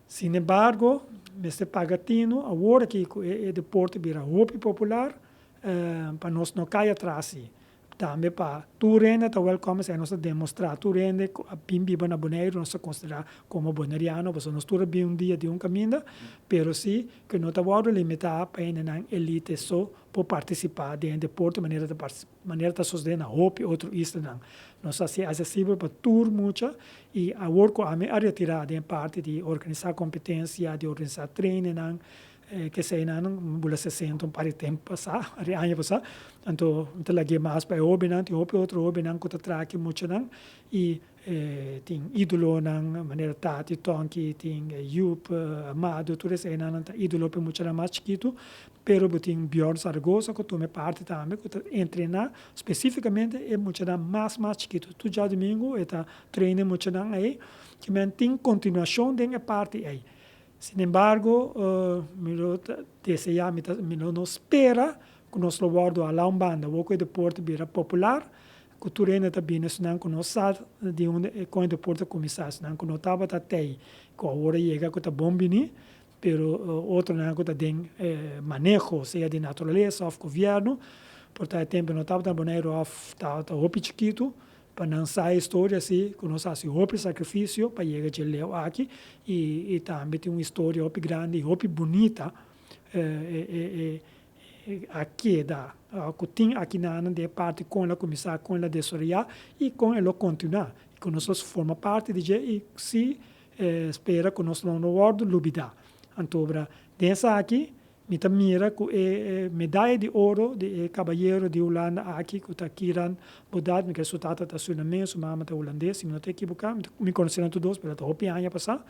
Sin embargo, mester paga tinu awor aki cu e deporte bira hopi popular, pa nos no cay atras y tambe pa tur hende ta welcome esey nos ta demostra tur hende cu a bin biba na Boneiru nos ta considera como Boneriano pasobra nos tur a bin un dia di un caminda, pero si cu no ta wordo limita pa hendenan elite so por participa den e deporte manera ta Manera ta sosde na hopi otro islanan. Nos a ser accesibel pa tur mucha y awor cu ami a retira den parti di organisa competencia, di organisa trainingnan, keseynan, bula sesenta un par di tempo pasa, un par di aña pasa, anto mi ta lagu'e mas pa e hobinan. Tin hopi otro hobinan cu ta traha aki muchanan y E tin idolonan manera Tati, Tonki, tin Joop, Amado, tur es enan nan ta idolo p'e muchanan mas chikitu, pero bo tin Bjorn Zaragoza ku tuma e parti tambe ku ta entrená spesífikamente e muchanan mas mas chikitu. Tur djadumingu e ta treina e muchanan ei, ki men tin kontinuashon den e parti ei. Sinembargo, mi lo ta deseá, mi lo no spera ku nos lo wòrdu halá un banda wok ku e deporte bira popular, ku tur hende ta bini esnan ku no sa di hunde e koño de por ta kuminsá, esnan ku no tabata te ei ku awor a yega ku ta bon bini, pero otronan ku ta den e maneho, sea di naturalesa òf govièrnu, por ta e tempu no tabata na Boneiru òf ta hopi chikitu pa nan sa e historia si ku nos a hasi hopi sakrifisio pa yega dje leu aki i tambe tin un historia hopi grandi i hopi bunita. a keda, ora ku tin akinanan den e parti kon el a kuminsá, kon el a desaroyá i kon e lo kontinuá. Ku nos los forma parti di dje i si spera ku nos lo no wòrdu lubidá. Anto obra den esaki mi ta mira ku e medaya di oro di e kabayero di Hulanda aki ku ta Kieran Bodaert, mi kre su tata ta sunames, su mama ta hulandes, si mi no ta ekibokado, mi konosé nan tur dos, pero ta hopi aña pasá.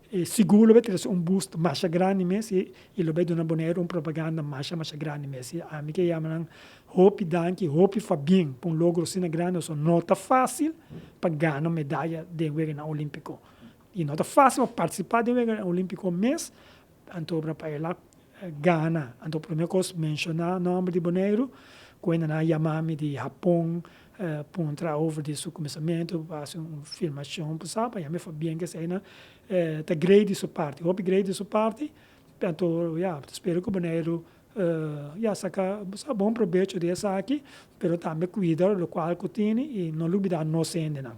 E sigur lo bai trese un boost masha grandi mes i i lo bai duna Boneiru un propaganda masha masha grandi mes. I ami ke yama nan hopi danki, hopi fabien pa un logro asina grandi pasobra no ta fácil pa gana un medaya den Weganan Olímpiko i no ta fácil pa partisipa den Weganan Olímpiko mes anto obra pa e lak Gana. Anto prome kos menshoná nòmber di Boneiru. Kuenda nan a yamá mi di Hapon puntra over di su kuminsamentu pa hasi un filmashon pa sa, pa yami for bien ke eseinan ta grei di su parti, hopi grei di su parti. Anto ya, ta spera ku Boneiru ya saka sa bon probecho di esaki, pero tambe kuida lokual ku tini i no lubidá nos hendenan.